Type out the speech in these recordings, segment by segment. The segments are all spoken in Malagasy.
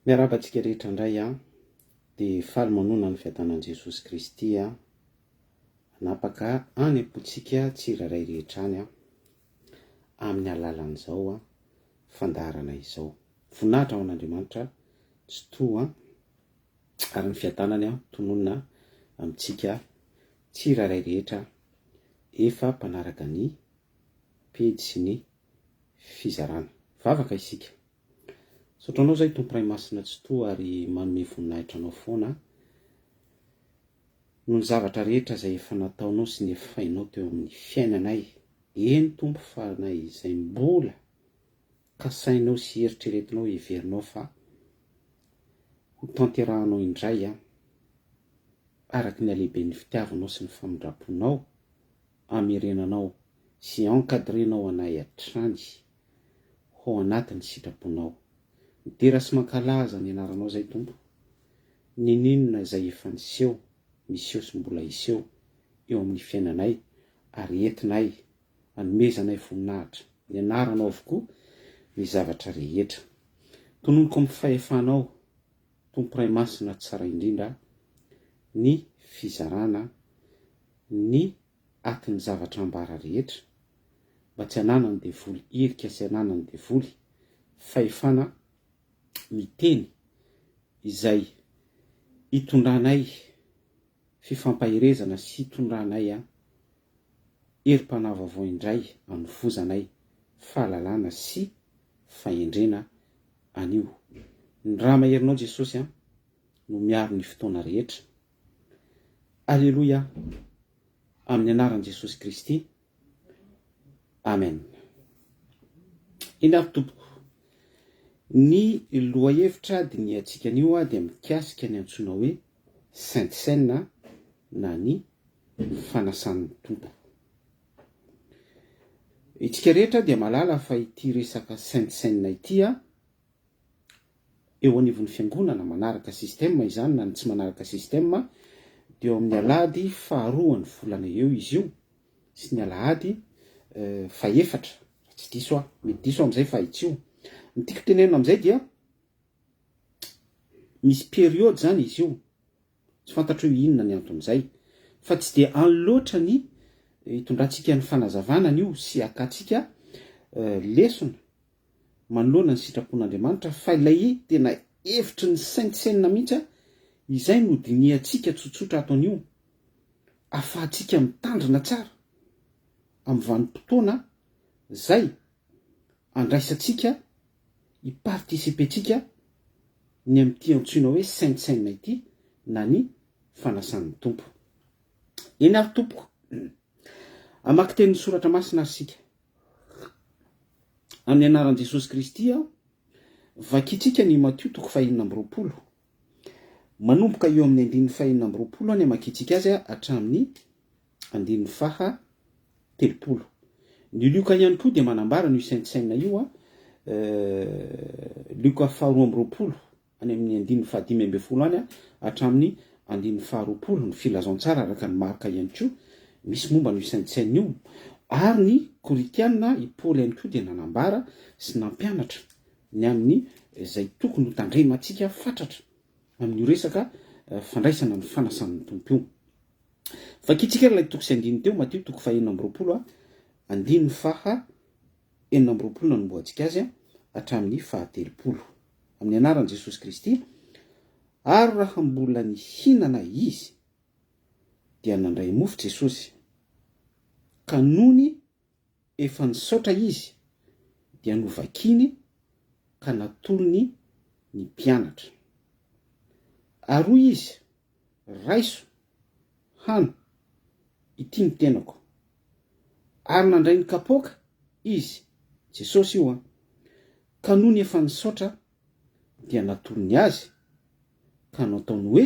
Miarahaba antsika rehetra indray aho, dia faly manonona ny fiadanan'i Jesosy Kristy aho, hanapaka any am-pontsika tsirairay rehetra any aho, amin'ny alalan'izao fandaharana izao. Voninahitra ho an'Andriamanitra Tsitoha ary ny fiadanany tononina amintsika Tsirairay rehetra efa mpanaraka ny pejy sy ny fizarana. Vavaka isika. Misaotra anao zay Tompo Ray Masina Tsitoha ary manome voninahitra anao foana noho ny zavatra rehetra izay efa nataonao sy nefainao teo amin'ny fiainanay, eny Tompo fa na izay mbola Kasainao sy eritreretinao heverinao fa ho tanterahanao indray an, araka ny halehiben'ny fitiavanao sy ny famindram-ponao, amerenanao sy encadrenao anay hatrany ho anatin'ny sitraponao. Midera sy mankalaza ny anaranao izay Tompo, n'inon'inona izay efa niseho, miseho sy mbola hiseho eo amin'ny fiainanay ary entinay anomezanay voninahitra, ny anaranao avokoa ny zavatra rehetra. Tononiko amin'ny fahefanao, Tompo Ray Masina Tsara Indrindra, ny fizarana ny atin'ny zavatra ambara rehetra, mba tsy ananan'ny devoly irika sy ananan'ny devoly fahefana miteny izay hitondranay fifampaherezana sy hitondranay herim-panahy vaovao indray anovozanay fahalalana sy fahendrena anio. Ny ra maherinao Jesosy a no miaro ny fotoana rehetra. Aleloia amin'ny anaran'i Jesosy Kristy. Amen. Eny ary tompoko. Ny lohahevitra dinihantsika anio dia mikasika ny antsoina hoe Sainte Seine na ny Fanasan'ny Tompo. Itsika rehetra dia malala fa ity resaka Sainte Seine ity a, eo anivon'ny Fiangonana manaraka système izany na ny tsy manaraka système dia eo amin'ny alahady faharoan'ny volana eo izy io sy ny alahady fahefatra raha tsy diso aho, mety diso aho amin'izay fa itsio. Ny tiako tenenina amin'izay dia. Misy période zany izy io, tsy fantatro hoe inona ny anton'izay, fa tsy dia any loatra ny hitondrantsika ny fanazavana an'io sy hakatsika lesona manoloana ny sitrapon'Andriamanitra fa ilay tena hevitry ny saintsainina mihitsy izay no dinihantsika tsotsotra ato anio afahantsika mitandrina tsara amin'ny vanim-potoana zay andraisantsika, hi-participer-ntsika ny amin'ity antsoina hoe Saint Seine ity na ny Fanasan'ny Tompo. Eny ary tompoko, hamaky teny ny Soratra Masina ary isika. Amin'ny anaran'i Jesosy Kristy aho, vakintsika ny Matio toko fahenina amby roapolo. Manomboka eo amin'ny andininy fahenina amby roapolo any hamakintsika azy hatramin'ny andininy faha telopolo. Ny Lioka ihany koa dia manambara an'io saintsaina io, Lioka faha roa amby roapolo, any amin'ny andininy faha dimy ambin'ny folo any hatramin'ny andininy faha roapolo, ny Filazantsara araka an'i Marka ihany koa misy momba an'io saintsaina io, ary ny Korintiana, i Paoly ihany koa dia nanambara sy nampianatra ny amin'ny izay tokony ho tandremantsika fatratra amin'io resaka fandraisana ny fanasan'ny Tompo io. Vakitsika ary ilay toko sy andininy teo, Matio toko faha enina amby roapolo a, andininy faha enina amby roapolo nanombohantsika azy a, hatramin'ny faha telopolo. Amin'ny anaran'i Jesosy Kristy, ary raha mbola nihinana izy, dia nandray mofo Jesosy, ka nony efa nisaotra izy, dia novakiny ka natolony ny mpianatra. Ary hoy izy, Raiso, hano, ity ny tenako. Ary nandray ny kapoaka Izy, Jesosy io an! Ka nony efa nisaotra dia natorony azy, ka nataony hoe,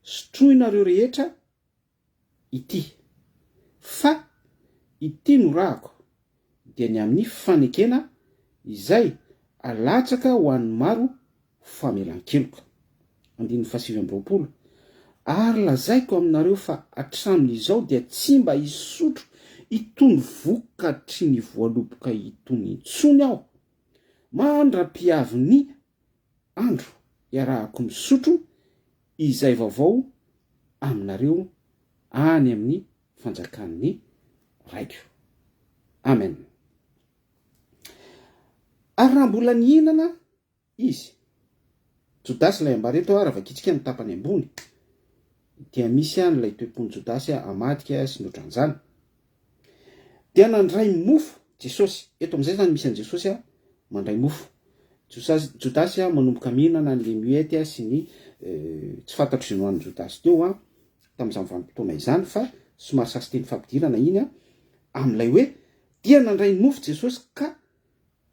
Sotroinareo rehetra ity. Fa ity no rahako, dia ny amin'ny fanekena izay alatsaka ho an'ny maro ho famelan-keloka. Andininy fahasivy amby roapolo, Ary lazaiko aminareo fa hatramin'izao dia tsy mba hisotro itony vokatry ny voaloboka itony intsony aho, mandra-pihavin'ny andro iarahako misotro izay vaovao aminareo any amin'ny fanjakan'ny Raiko. Amen. Ary raha mbola nihinana izy, Jodasy ilay ambara eto, raha vakitsika ny tapany ambony, dia misy any ilay toe-pon'i Jodasy hamadika sy ny ohatran'izany. Dia nandray mofo Jesosy. Eto amin'izay izany misy an'i Jesosy mandray mofo. Josasy, Jodasy manomboka mihinana an'ilay muette sy ny tsy fantatro izay nohanin'i Jodasy teo tamin'izany vanim-potoana izany fa somary sasiteny fampidirana iny amin'ilay hoe, dia nandray mofo Jesosy ka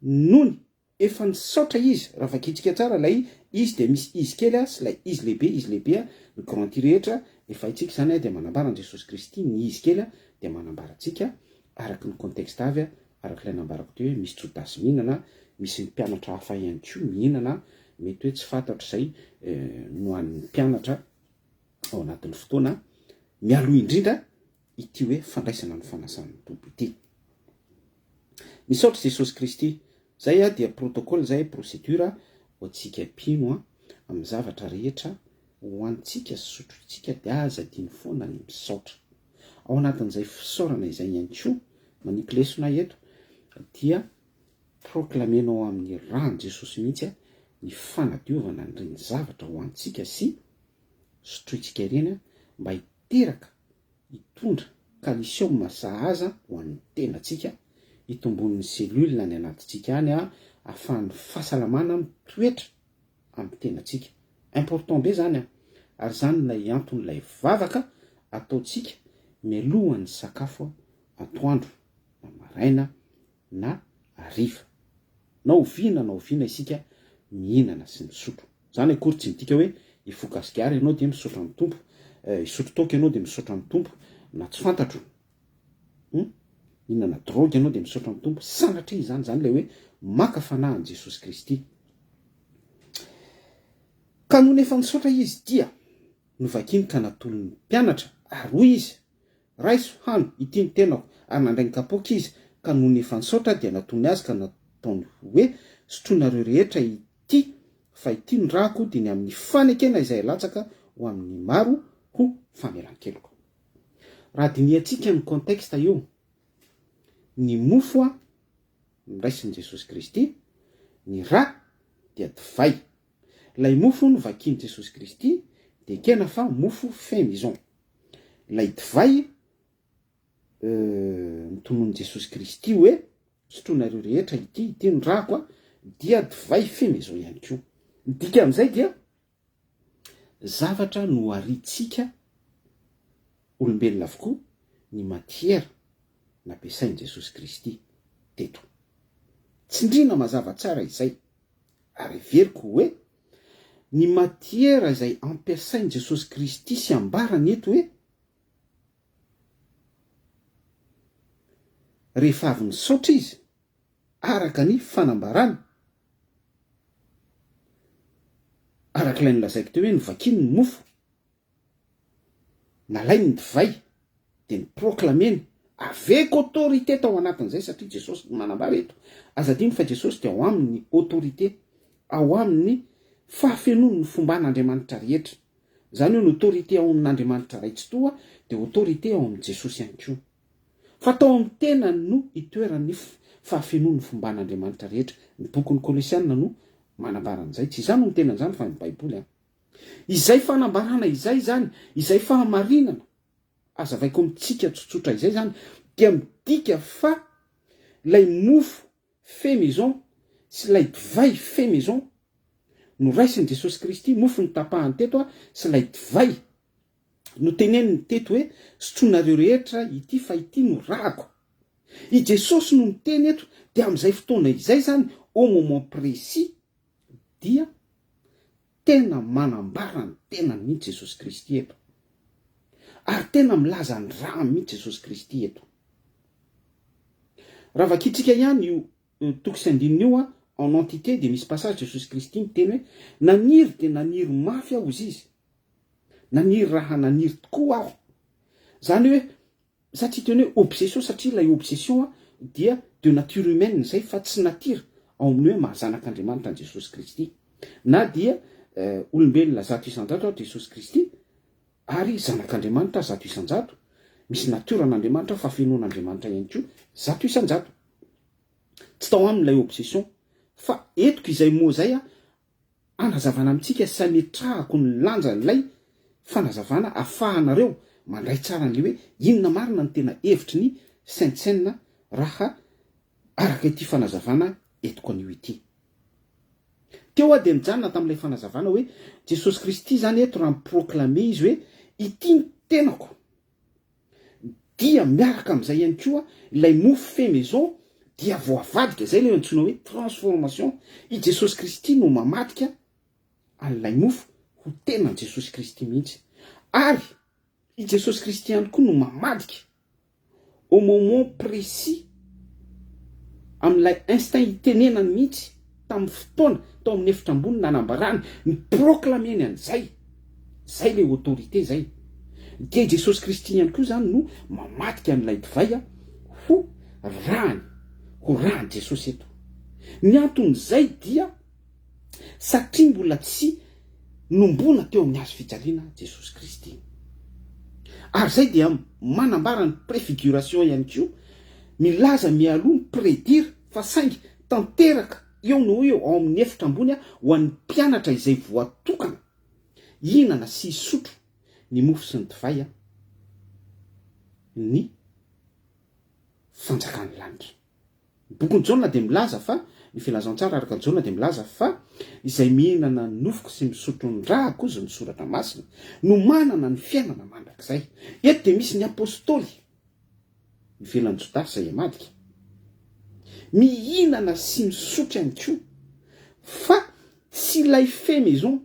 nony. Efa nisaotra izy, raha vakintsika tsara ilay izy dia misy izy kely a sy ilay izy lehibe, izy lehibe a, ny grand ity rehetra efa haintsika izany a dia manambara an'i Jesosy Kristy, ny izy kely a dia manambara antsika araky ny contexte avy a, araky ilay nambarako teo hoe misy jodasy mihinana a, misy ny mpianatra hafa ihany koa mihinana a, mety hoe tsy fantatro izay no an'ny mpianatra ao anatin'ny fotoana mialoha indrindra, ity hoe fandraisana ny fanasan'ny Tompo ity. Misaotra Jesosy Kristy. Zay a dia protocole zay, procedure, ho antsika mpino a, amin'ny zavatra rehetra ho antsika sy sotrointsika dia aza adino foana ny misaotra. Ao anatin'izay fisaorana izay ihany koa, manipy lesona eto, dia proclamer-nao amin'ny ran'i Jesosy mihitsy a, ny fanadiovana an'ireny zavatra ho antsika sy sotrointsika ireny a, mba teraka hitondra calcium sahaza ho an'ny tenantsika, hitombon'ny cellules any anatintsika any, ahafahan'ny fahasalamana mitoetra amin'ny tenantsika. Important be izany ary izany ilay anton'ilay vavaka ataontsika mialohan'ny sakafo atoandro na maraina na hariva. Na oviana na oviana isika mihinana sy misotro. Izany akory tsy midika hoe hifoha gasikara ianao dia misaotra ny Tompo, hisotro toaka ianao dia misaotra ny Tompo, na tsy fantatro, hum, hihinana drogue ianao dia misaotra ny Tompo, sanatria izany, izany ilay hoe maka fanahy an'i Jesosy Kristy. Ka nony efa nisaotra izy dia novakiny ka natolony ny mpianatra ary hoy izy, Raiso hano ity ny tenako ary nandray ny kapoaka izy ka nony efa nisaotra dia natony azy ka nataony hoe sotroinareo rehetra ity fa ity ny ràko diny amin'ny fanekena izay latsaka ho amin'ny maro ho famelan-keloka raha dinihantsika ny contexte io ny mofo a noraisin'i Jesosy Kristy ny rà dia divay ilay mofo novakian'i Jesosy Kristy dia ekena fa mofo fait maison. Ilay divay notononin'i Jesosy Kristy hoe, sotroinareo rehetra ity, ity ny rako a, dia divay feno izao ihany koa. Ny dikan'izay dia zavatra noharintsika olombelona avokoa ny matiera nampiasain'i Jesosy Kristy teto. Tsindriana mazava tsara izay, ary heveriko hoe Ny matiera izay ampiasain'i Jesosy Kristy sy ambarany eto hoe, rehefa avy nisaotra Izy, araka ny fanambarana, araka ilay nolazaiko teo hoe, novakiany ny mofo, Nalainy ny divay dia ni-proclamer-ny avec autorité tao anatin'izay satria Jesosy no manambara eto. Aza adino fa Jesosy dia ao aminy ny autorité, ao aminy ny fahafenoany ny fomban'Andriamanitra rehetra. Izany hoe ny autorité ao amin'Andriamanitra Ray Tsitoha dia autorité ao amin'i Jesosy ihany koa. Fa tao amin'ny tenany no itoeran'ny fahafenoan'ny fomban'Andriamanitra rehetra. Ny bokin'ny Kolosiana no manambara an'izay. Tsy izaho no miteny an'izany fa ny Baiboly an. Izay fanambarana izay izany, izay fahamarinana azavaiko amintsika tsotsotra izay izany dia midika fa ilay mofo fait maison sy ilay divay fait maison noraisin'i Jesosy Kristy, mofo notapahany teto a, sy ilay divay noteneniny teto hoe sotroinareo rehetra ity fa ity no ràko. I Jesosy no miteny eto dia amin'izay fotoana izay izany, au moment précis, dia tena manambara ny tenany mihitsy Jesosy Kristy eto, ary tena milaza ny rany mihitsy Jesosy Kristy eto. Raha vakintsika ihany io toko sy andininy io en entités dia misy passage Jesosy Kristy miteny hoe, naniry dia naniry mafy aho hozy izy, naniry raha naniry tokoa aho, izany hoe Za tsy hiteny hoe obsession satria ilay obsession dia de nature humaine izay fa tsy natira ao amin'ny hoe maha-zanak'Andriamanitra an'i Jesosy Kristy. Na dia olombelona zato isan-jato ary Jesosy Kristy ary zanak'Andriamanitra zato isan-jato, misy natiora an'Andriamanitra, fahafenoan'Andriamanitra ihany koa zato isan-jato. Tsy tao aminy ilay obsession. Fa etiko izay mots izay Anazavana amintsika sy ametrahako ny lanjan'ilay fanazavana afahanareo mandray tsara an'ilay hoe inona marina no tena hevitry ny Sentsen raha araka ity fanazavana entiko anio ity. Teo aho dia nijanona tamin'ilay fanazavana hoe Jesosy Kristy izany eto raha mi-proclamer izy hoe ity ny tenako. Dia miaraka amin'izay ihany koa ilay mofo fait maison dia voavadika, izay ilay antsoina hoe transformation. I Jesosy Kristy no mamadika an'ilay mofo ho tenan'i Jesosy Kristy mihitsy. Ary i Jesosy Kristy ihany koa no mamadika au moment précis, amin'ilay instinct itenenany mihitsy, tamin'ny fotoana tao amin'ny efitra ambony nanambarany ny proclameny an'izay, izay ilay autorité izay, dia i Jesosy Kristy ihany koa izany no mamadika an'ilay divay ho rany, ho ran'i Jesosy eto. Ny anton'izay dia satria mbola tsy nombona teo amin'ny hazo fijaliana Jesosy Kristy. Ary izay dia manambara ny préfiguration ihany koa, milaza mialoha, mi-prédire, fa saingy Tanteraka eo no ho eo ao amin'ny efitra ambony ho an'ny mpianatra izay voatokana hihinana sy hisotro ny mofo sy ny divay ny fanjakan'ny lanitra. Ny bokin'i Jaona dia milaza fa, ny filazantsara araka Jaona dia milaza fa izay mihinana ny nofoko sy misotro ny ràko, hozy ny soratra masina, no manana ny fiainana mandrakizay. Eto dia misy ny apostoly ivelan'i Jodasy izay himadika. Mihinana sy misotry ihany koa, fa tsy ilay fait maison,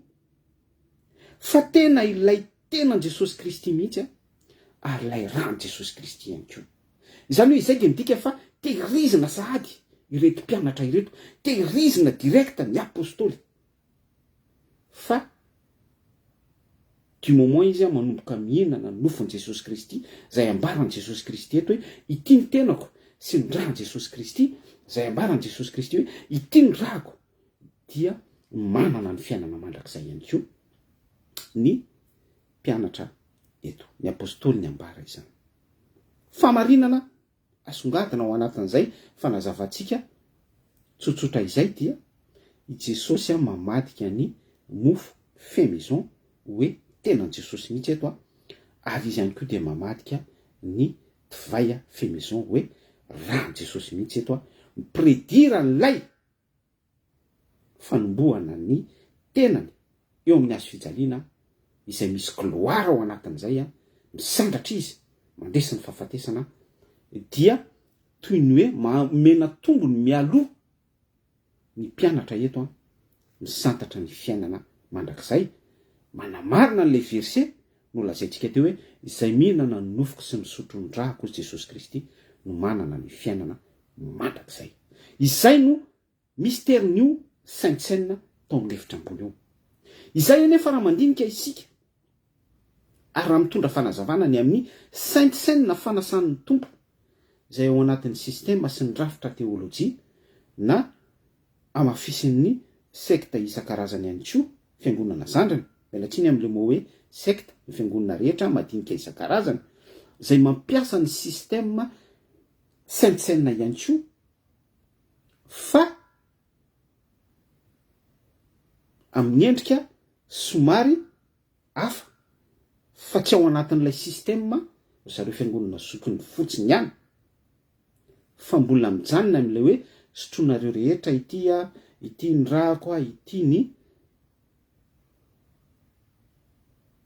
fa tena ilay tenan'i Jesosy Kristy mihitsy ary ilay ran'i Jesosy Kristy ihany koa. Izany hoe izay dia midika fa tehirizina sahady ireto mpianatra ireto, tehirizina direct ny Apostoly Fa du moment izy an manomboka mihinana ny nofon'i Jesosy Kristy, izay ambaran'i Jesosy Kristy eto hoe ity ny tenako sy ny ran'i Jesosy Kristy, izay ambaran'i Jesosy Kristy hoe ity ny rako, dia manana ny fiainana mandrakizay ihany koa ny mpianatra eto, ny apostoly niambara izany. Famarinana Asongadina ao anatin'izay fanazavantsika tsotsotra izay dia i Jesosy mamadika ny mofo fait maison hoe tenan'i Jesosy mihitsy eto ary izy ihany koa dia mamadika ny divay fait maison hoe ran'i Jesosy mihitsy eto mi-predire an'ilay fanombohana ny tenany eo amin'ny hazo fijaliana izay misy gloire ao anatin'izay, misandratra izy mandresy ny fahafatesana dia toy ny hoe maha-omena tombony mialoha ny mpianatra eto misantatra ny fiainana mandrakizay, manamarina an'ilay verset Nolazaintsika teo hoe izay mihinana ny nofoko sy misotro ny drako, hoy Jesosy Kristy, no manana ny fiainana mandrakizay. Izay no misterin'io Saintsenina tao amin'ny efitra ambony io. Izay anefa raha mandinika isika ary raha mitondra fanazavana ny amin'ny Saintsenina fanasan'ny Tompo izay ao anatin'ny sistema sy ny rafitra teolojia na hamafisin'ny sekta isan-karazany ihany koa, fiangonana zandriny, miala tsiny amin'ilay mot hoe sekta, ny fiangonana rehetra madinika isan-karazany, izay mampiasa ny système saintsainina ihany koa, fa amin'ny endrika somary hafa fa tsy ao anatin'ilay système ry zareo fiangonana zokiny fotsiny ihany fa mbola mijanona amin'ilay hoe sotroinareo rehetra ity a, ity ny ràko a, ity ny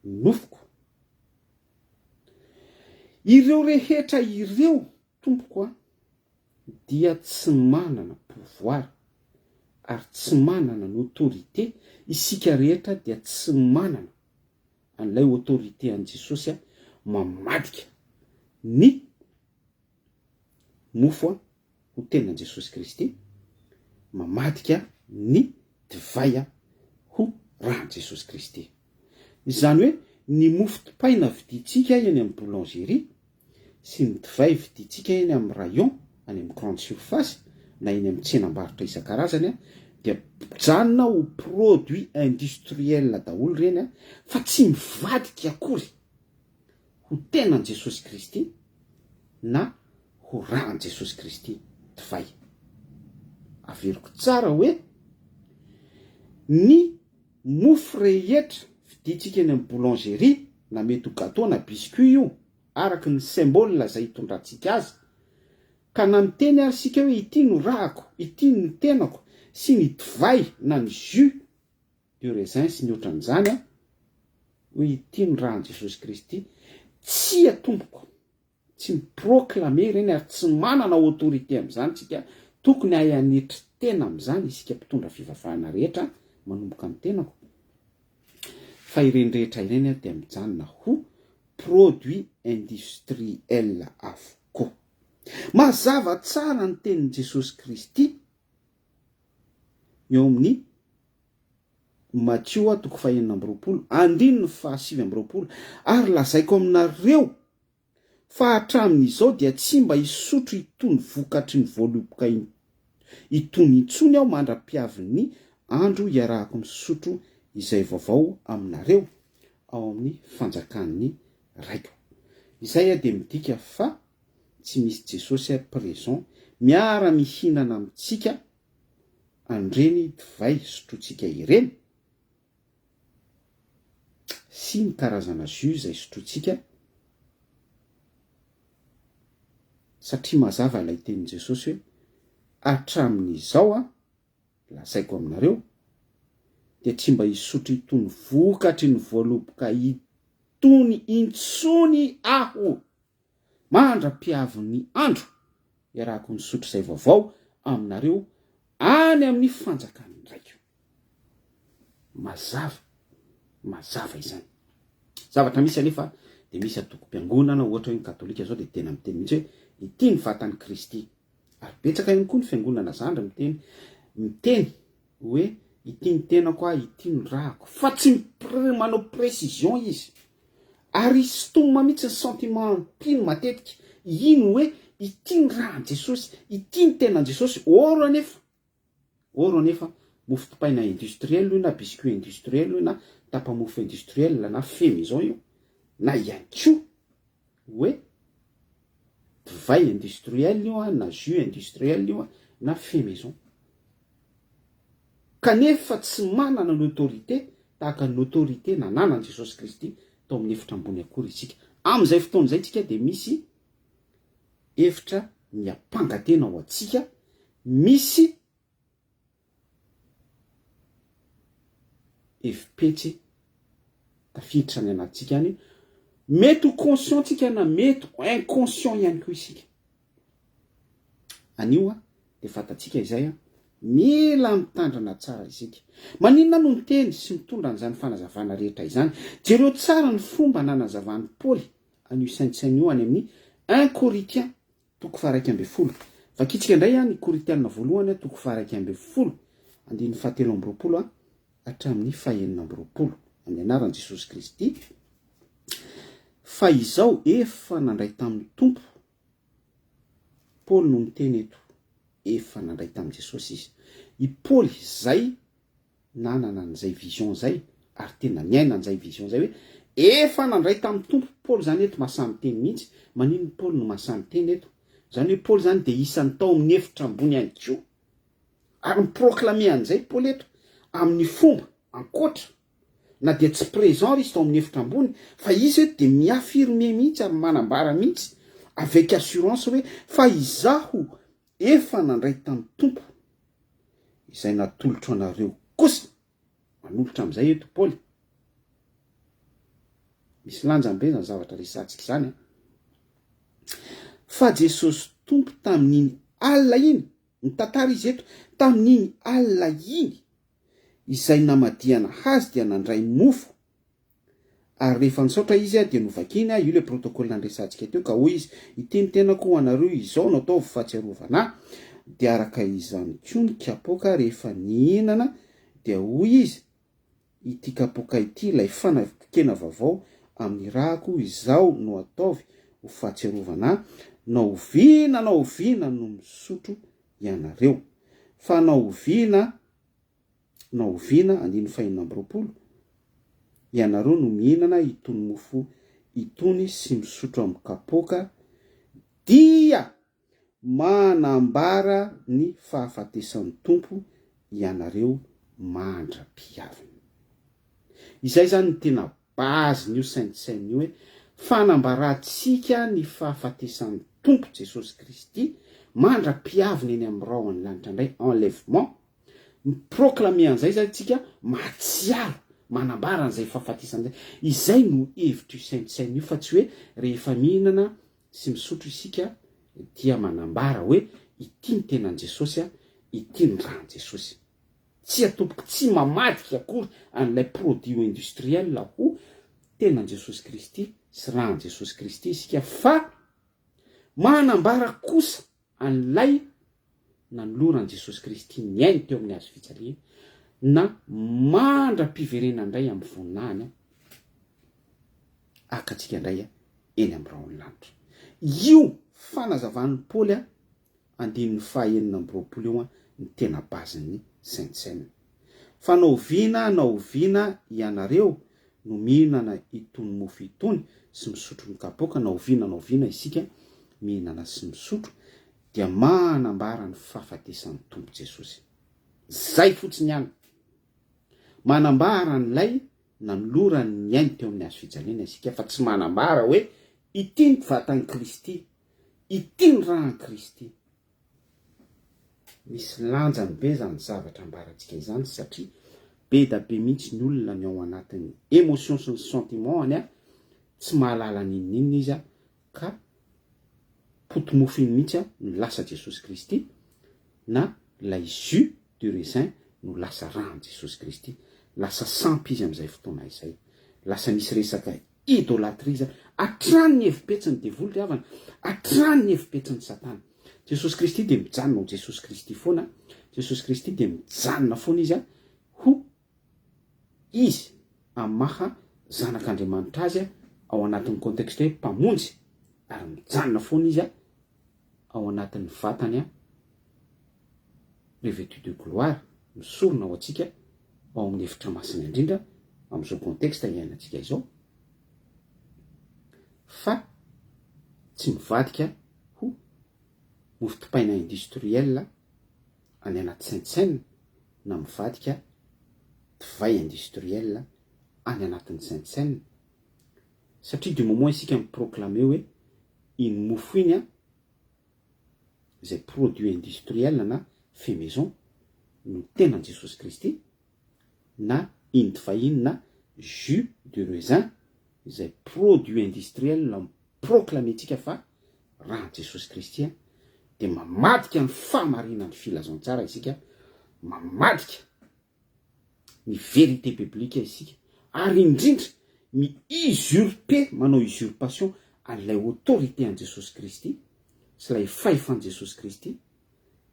nofoko. Ireo rehetra ireo Tompoko a, dia tsy manana pouvoir ary tsy manana ny autorité isika rehetra dia tsy manana an'ilay autorité an'i Jesosy a, mamadika ny mofo a ho tenan'i Jesosy Kristy, mamadika ny divay a ho ran'i Jesosy Kristy. Izany hoe ny mofo dipaina vidintsika eny amin'ny boulangerie sy ny divay vidintsika eny amin'ny rayon, any amin'ny grande surface na eny amin'ny tsenam-barotra isan-karazany dia mijanona ho produit industriel daholo ireny fa tsy mivadika akory ho tenan'i Jesosy Kristy na ho ran'i Jesosy Kristy divay. Averiko tsara hoe ny Mofo rehetra vidintsika eny amin'ny boulangerie na mety ho gateau na biscuit io araka ny symbole izay itondrantsika azy ka na miteny ary isika hoe ity no rahako, ity no tenako sy ny divay na ny jus de raisin sy ny otran'izany hoe ity no rahan'i Jesosy Kristy, tsia tompoko. Tsy mi-proclamer ireny ary tsy manana autorité amin'izany isika, tokony hahay hanetry tena amin'izany isika mpitondra fivavahana rehetra, manomboka ny tenako, fa ireny rehetra ireny dia mijanona ho produits industriels avokoa. Mazava tsara ny tenin'i Jesosy Kristy eo amin'ny Matio toko fahenina amby roapolo, andininy fahasivy amby roapolo, ary lazaiko aminareo, Fa hatramin'izao dia tsy mba hisotro itony vokatry ny voaloboka itony intsony aho mandra-piavin'ny andro hiarahako misotro izay vaovao aminareo ao amin'ny fanjakan'ny Raiko. Izay dia midika fa tsy misy Jesosy présent miara-mihinana amintsika an'ireny divay sotrointsika ireny? sy ny karazana jus izay sotrointsika, satria mazava ilay tenin'i Jesosy hoe, Hatramin'izao Aho, lazaiko aminareo, dia tsy mba hisotro itony vokatry ny voaloboka itony intsony Aho. mandra-piavin'ny andro, iarahako misotro izay vaovao aminareo any amin'ny fanjakan'ny Raiko. Mazava, mazava izany. Zavatra misy anefa dia misy antokom-piangonana, ohatra hoe ny Katolika izao dia tena miteny mihitsy hoe ity ny vatan'i Kristy. Ary betsaka ihany koa ny fiangonana zandry miteny, miteny. Hoe ity ny tenako ah, ity no rahako. Fa tsy manao précision izy. Ary stomina mihitsy ny sentiment mpino matetika. Hino hoe ity ny rahan'i Jesosy, ity ny tenan'i Jesosy. Or anefa, or anefa, mofo dipaina industriel io na biscuit industriel io na tapa-mofo industriel na femy izao io na ihany koa hoe divay industriel io an, na jus industriel io an, na fait maison. Kanefa tsy manana ny autorité tahaka ny autorité nananan'i Jesosy Kristy tao amin'ny efitra ambony akory isika. Amin'izay fotoana izay isika dia misy efitra miampanga tena ho antsika, misy. Efi-petsy tafiditra any anatintsika any. Mety ho conscient tsika na mety ho inconscient ihany koa isika. Anio dia fantatsika izay, mila mitandrina tsara isika. Maninona no miteny sy mitondra an'izany fanazavana rehetra izany? Jereo tsara ny fomba nanazavàn'i Paoly an'io saintsaina io any amin'ny un Corinthiens Toko faha iraika ambin'ny folo. Vakintsika indray ny Korintiana voalohany toko faha iraika ambin'ny folo, andininy faha telo amby roapolo hatramin'ny faha enina amby roapolo. Amin'ny anaran'i Jesosy Kristy, fa izao efa nandray tamin'ny Tompo, Paoly no miteny eto, efa nandray tamin'i Jesosy izy. I Paoly izay nanana an'izay vision izay ary tena niaina an'izay vision izay hoe efa nandray tamin'ny Tompo Paoly izany eto masaha miteny mihitsy, maninona Paoly no masaha miteny eto? izany hoe Paoly izany dia isan'ny tao amin'ny efitra ambony ihany koa ary mi-proclamer an'izay Paoly eto amin'ny fomba ankoatra na dia tsy présent ary izy tao amin'ny efitra ambony fa izy eto dia mi-affirmer mihitsy ary manambara mihitsy avec assurance hoe fa izaho Efa nandray tamin'ny Tompo izay natolotro anareo kosa. Manolotra amin'izay eto Paoly. Misy lanjany be izany zavatra resahantsika izany an! Fa Jesosy Tompo tamin'iny alina iny, mitantara Izy eto, tamin'iny alina iny izay namadihana Azy dia nandray mofo Ary rehefa nisaotra izy, dia novakiny, io ilay protocole nandresantsika teo, ka hoy izy, Ity ny tenako ho anareo, izao no ataovy fahatsiarovana ahy. Dia araka izany koa ny kapoaka rehefa nihinana, dia hoy izy, Ity kapoaka ity, ilay fanavokena vaovao amin'ny ràko, izao no ataovy ho fahatsiarovana ahy, na oviana na oviana no misotro ianareo. Fa na oviana. na oviana andininy fahenina amby roapolo, ianareo no mihinana itony mofo itony sy misotro amin'ny kapoaka dia manambara ny fahafatesan'ny Tompo ianareo mandra-pihaviny. Izay izany no tena Base n'io saintssaina io hoe fanambarantsika ny fahafatesan'ny Tompo Jesosy Kristy mandra-piaviny eny amin'ny rahon'ny lanitra indray, enlèvement, mi-proclamer an'izay izany tsika, mahatsiaro, manambara an'izay fahafatesana izay. Izay no hevitr'io saintssaina io fa tsy hoe rehefa mihinana sy misotro isika dia manambara hoe ity ny tenan'i Jesosy, ity ny ran'i Jesosy. Tsia tompoko tsy mamadika akory an'ilay produit industriel aho, tenan Jesosy Kristy sy ran Jesosy Kristy isika fa manambara kosa an'ilay nanoloran Jesosy Kristy ny ainy teo amin'ny hazo fijaliana na mandra piverena ndray amin'ny voninahiny haka antsika ndray eny amin'ny rahon'ny lanitra. Io fanazavan'i Paoly andininy fahenina amby roapolo io ny tena base ny Sentsem. Fa na oviana na oviana ianareo no mihinana itony mofo itony sy misotro ny kapoaka na oviana na oviana isika mihinana sy misotro dia manambara ny fahafatesan'ny Tompo Jesosy. Zay fotsiny ihany. Manambara an'ilay nanolorany ny ainy teo amin'ny hazo fijaliana isika fa tsy manambara hoe ity ny vatan'i Kristy Ity ny ran'i Kristy. Misy lanjany be izany zavatra ambarantsika izany satria be da be mihitsy ny olona ny ao anatin'ny émotion sy ny sentiment-any tsy mahalala n'inon'inona izy ka poti-mofo iny mihitsy no lasa Jesosy Kristy na ilay jus du raisin no lasa ran'i Jesosy Kristy. Lasa sampy izy amin'izay fotoana izay. Lasa misy resaka Idolatria izany. Hatrany ny hevi-petsin'ny devoly ry havana. Hatrany ny hevi-petsin'i Satana. Jesosy Kristy dia mijanona ho Jesosy Kristy foana. Jesosy Kristy dia mijanona foana Izy ho Izy amin'ny maha Zanak'Andriamanitra Azy ao anatin'ny contexte hoe Mpamonjy. Ary mijanona foana Izy ao anatin'ny vatany an, revêtu de gloire, misorona ho antsika ao amin'ny efitra masina indrindra amin'izao contexte iainantsika izao, fa tsy mivadika ho mofo dipaina industriel any anaty saintsainina na mivadika divay industriel any anatin'ny saintsainina Satria du moment isika mi-proclamer hoe iny mofo iny an, izay produit industriel na fait maison no tenan'i Jesosy Kristy, na iny divay iny na jus de raisin izay produit industriel mi-proclamer-tsika fa ran'i Jesosy Kristy an, dia mamadika ny fahamarinan'ny filazantsara isika, mamadika ny vérité biblique isika ary indrindra mi usurper, manao usurpation an'ilay autorité an'i Jesosy Kristy sy ilay fahefan'i Jesosy Kristy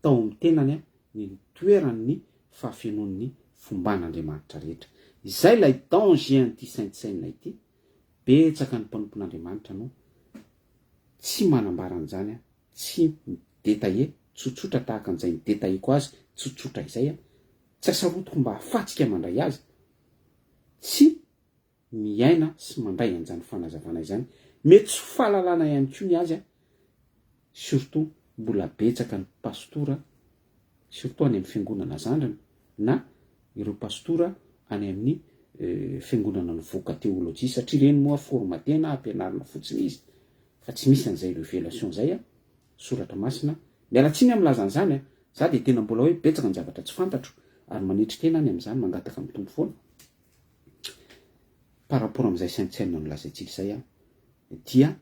tao amin'ny tenany ny nitoeran'ny fahafenoan'ny fomban'Andriamanitra rehetra. Izay ilay danger an'ity saintsainina ity, betsaka ny mpanompon'Andriamanitra no tsy manambara an'izany tsy mi-detailler tsotsotra tahaka an'izay ni-detailleko azy tsotsotra izay aho, tsy asarotiko mba hahafatsika mandray azy, tsy miaina sy mandray an'izany fanazavana izany. Mety tsy ho fahalalana ihany koa ny azy an! Surtout mbola betsaka ny pastora, surtout any amin'ny fiangonana zandriny na ireo pastora any amin'ny fiangonana nivoaka teolojia satria ireny moa formatena, ampianarina fotsiny izy Fa tsy misy an'izay revelation izay an, soratra masina. Miala tsiny an milaza an'izany an, za dia tena mbola hoe betsaka ny zavatra tsy fantatro ary manetry tena any amin'izany, mangataka amin'ny Tompo foana par rapport amin'izay saintsm nolazaintsika izay an, dia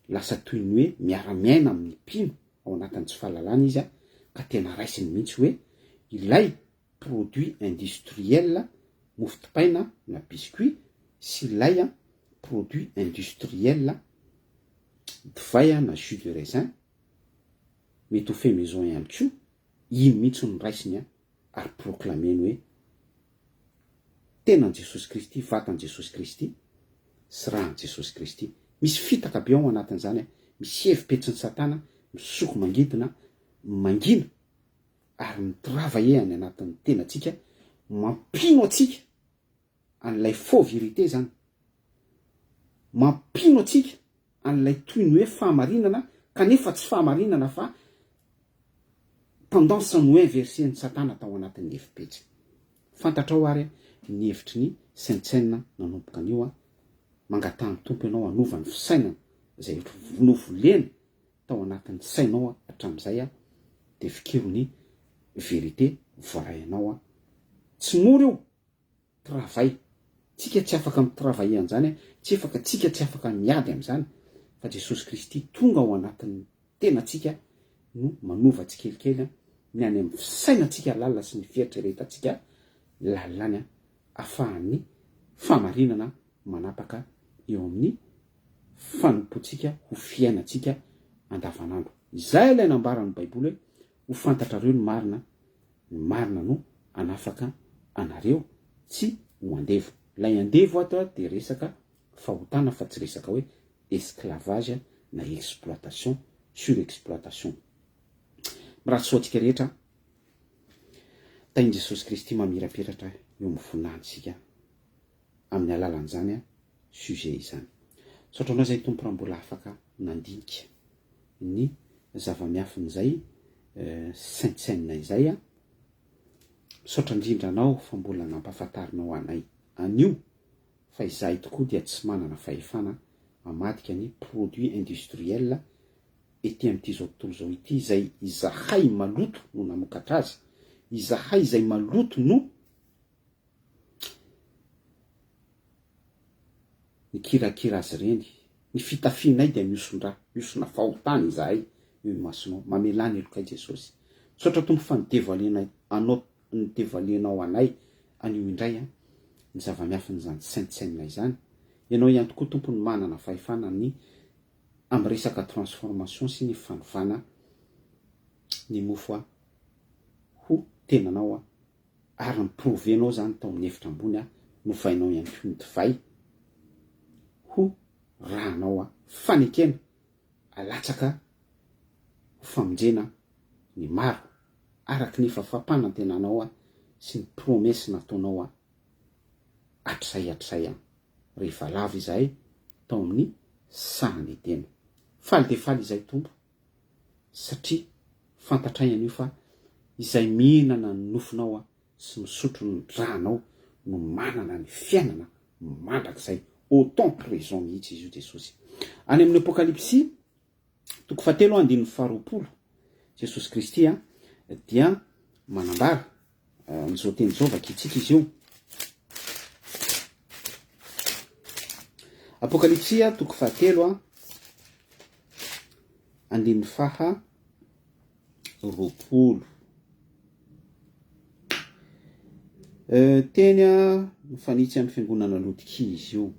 lasa toy ny hoe miara miaina amin'ny mpino ao anatin'ny tsy fahalalana izy an, ka tena raisiny mihitsy hoe ilay produits industriels, mofo dipaina na biscuits, sy lait, produits industriels, divay na jus de raisin, mety ho fait maison ihany koa, iny mihitsy no raisiny ary proclameny hoe tenan'i Jesosy Kristy, vatan'i Jesosy Kristy sy ran'i Jesosy Kristy. Misy fitaka be ao anatin'izany, misy hevi-petsin'i Satana misoko mangidina, mangina. ary ny mpirava e any anatin'ny tenantsika mampino antsika an'ilay faux vérité izany mampino antsika an'ilay toy ny hoe fahamarinana kanefa tsy fahamarinana fa tendance no inverse ny satana tao anatin'ny efi-pejy fantatrao ary ny hevitry ny saintsaina nanomboka anio a mangataha ny tompo ianao hanova ny fisainana izay novolena tao anatin'ny sainao hatramin'izay dia fikiro ny vérité voaray anao tsy mora io travail tsika tsy afaka mi travailler an'izany tsy efaka tsika tsy afaka miady amin'izany fa Jesosy Kristy tonga ao anatin'ny tenatsika no manova tsikelikely ny any amin'ny fisainatsika lalina sy ny fieritreretantsika lalina ny afahan'ny famarinana manapaka eo amin'ny fanompoantsika ho fiainantsika andavanandro. Izay ilay nambaran'ny Baiboly hoe, Ho fantatrareo ny marina, ny marina no hanafaka anareo tsy ho andevo. Ilay andevo ato dia resaka fahotana fa tsy resaka hoe esclavage na exploitation, surexploitation. Mirary soa antsika rehetra. Tahin'i Jesosy Kristy mamirapiratra eo amin'ny voninahiny isika. amin'ny alalan'izany sujet izany. Misaotra anao izay Tompo raha mbola afaka nandinika ny zava-miafin'izay saintsainina izay. Misaotra indrindra anao fa mbola nampahafantarinao anay an'io fa izahay tokoa dia tsy manana fahefana hamadika ny produits industriels ety amin'it'izao tontolo izao ity izay izahay maloto no namokatra azy, izahay izay maloto no Mikirakira azy ireny. Ny fitafianay dia mihoson-dra, mihosona fahotana izahay eo imasonao. Mamelà ny helokay Jesosy. Misaotra Tompo fa ny devoilenay anao ny devoilenao anay anio indray an, ny zava-miafin'izany saintsainina izany. Ianao ihany tokoa Tompo no manana fahefana ny amin'ny resaka transformation sy ny fanovana ny mofo an, ho tenanao an, ary ny prove nao zany tao amin'ny efitra ambony aho novainao ihany koa ny divay ho rànao a! fanekena alatsaka ho famonjena ny maro araky ny fafampanantenanao a! sy ny promesse nataonao a! hatrizay hatrizay a! rehefa lava izahay tao amin'ny sahan'ny tena faly dia faly izahay Tompo satria fantatray anio fa izay mihinana ny nofonao sy misotro ny dranao no manana ny fiainana mandrakizay autant que raison mihitsy izy io Jesosy any amin'ny apokalypsy toko fahatelo andininy faharoapolo Jesosy Kristy dia manambara Amin'izao teny izao vakintsika izy io. Apokalypsia toko fahatelo a andininy faha roapolo euh, teny a mifanitsy amin'ny fiangonana lotika izy io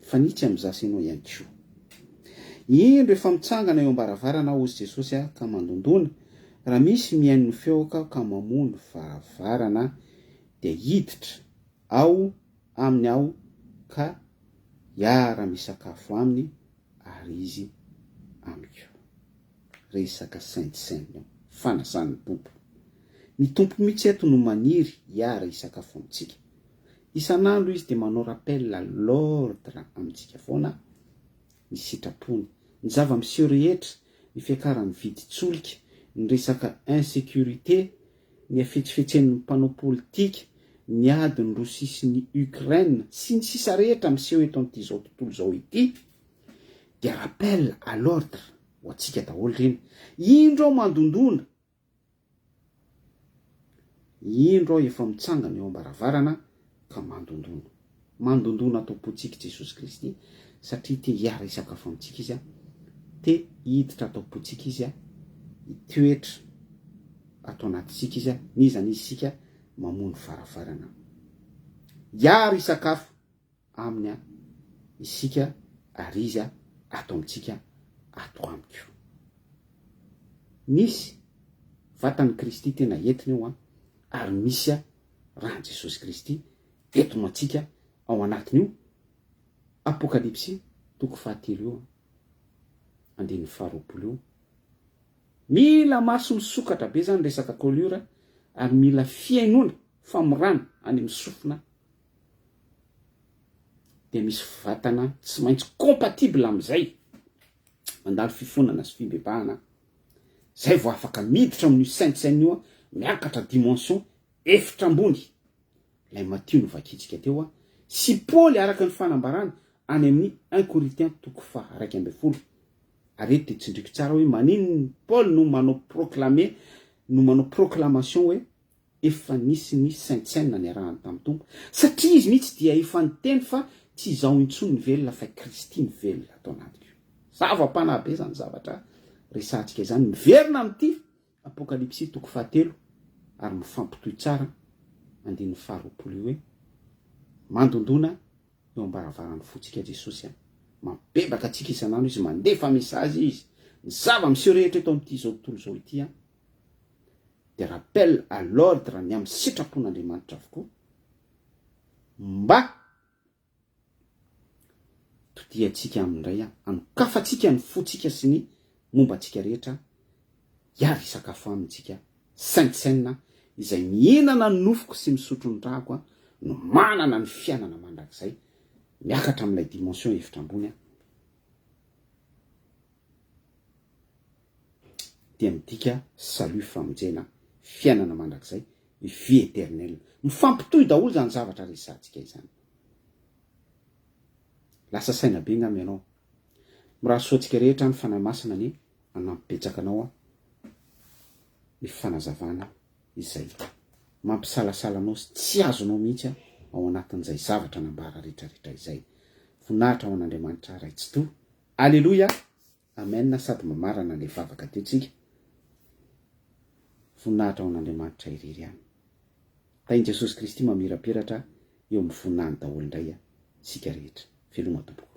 mifanitsy amin'ny za sy ianao ihany koa indro efa mitsangana eo ambaravarana hozy jesosy a ka mandondona Raha misy mihaino ny feoko aho ka mamoha ny varavarana dia hiditra ao aminy aho ka hiara-misakafo aminy ary izy amiko. Resaka saintsainina io. Fanasana ny Tompo. Ny Tompo mihitsy eto no maniry hiara-hisakafo amintsika. Isan'andro Izy dia manao rappel à l'ordre amintsika foana ny sitrapony. Ny zava-miseho rehetra, ny fiakaran'ny vidin-tsolika, ny resaka insécurité, ny hafetsifetsen'ny mpanao politika, ny adin'i Rosia sy ny Ukraine, sy ny sisa rehetra miseho eto amin'ity izao tontolo izao ity dia rappel à l'ordre ho antsika daholo ireny. Indro aho mandondona Indro aho efa mitsangana eo am-baravarana ka mandondona. Mandondona ato am-pontsika i Jesosy Kristy satria te hiara-hisakafo amintsika Izy. Te hiditra ato am-pontsika Izy, hitoetra ato anatintsika Izy, n'iza n'iza isika mamoha ny varavarana. Hiara-hisakafo. aminy an isika ary izy an ato amintsika ato amiko. Nisy vatan'i Kristy tena entiny eo an ary misy an ran'i Jesosy Kristy eto ho antsika ao anatin'io Apokalypsy toko fahatelo io andininy faharoapolo io. Mila maso misokatra be zany resaka colure ary mila fihainoana famorana any amin'ny sofina dia misy vatana tsy maintsy compatible amin'izay, mandalo fifonana sy fibebahana aho, izay vao afaka miditra amin'io sein de scène io aho, miakatra dimension efitra ambony, ilay Matio novakintsika teo aho, sy Paoly araka ny fanambarany any amin'ny un Corinthiens toko faha iraika ambin'ny folo, ary eto dia tsindriko tsara hoe maninona Paoly no manao proclamer, no manao proclamation hoe Efa nisy ny saintsaina niarahany tamin'ny Tompo, satria izy mihitsy dia efa niteny fa tsy izaho intsony ny velona fa i Kristy no velona ato anatiko. Zava-panahy be izany zavatra resahantsika izany, miverina amin'ity Apokalypsy toko fahatelo ary mifampitohy tsara andininy faharoapolo io hoe, Mandondona eo am-baravaran'ny fontsika Jesosy an, mampibebaka antsika isan'andro Izy, mandefa mesazy Izy, ny zava-miseho rehetra eto amin'ity izao tontolo izao ity an, dia rappel à l'ordre ny amin'ny sitrapon'Andriamanitra avokoa mba todiantsika aminy indray aho, anokafantsika ny fontsika sy ny momba antsika rehetra hiaro hisakafo aminy isika saintsainina izay mihinana ny nofoko sy misotro ny rako no manana ny fiainana mandrakizay miakatra amin'ilay dimension efitra ambony aho dia midika salut famonjena fiainana mandrakizay vie eternelle mifampitohy daholo izany zavatra resahantsika izany lasa saina be ngam ianao mirary soa antsika rehetra ny fanahy masina anie hanampy betsaka anao aho ny fanazavana izay mampisalasala anao sy tsy azonao mihitsy aho ao anatin'izay zavatra nambara rehetrarehetra izay voninahitra ho an'andriamanitra ray tsitoha aleloia Amen sady mamarana le vavaka teo tsika voninahitra ho an'Andriamanitra irery ihany Tahin Jesosy Kristy mamirapiratra eo amin'ny voninahiny daholo indray tsika rehetra veloma tompoko.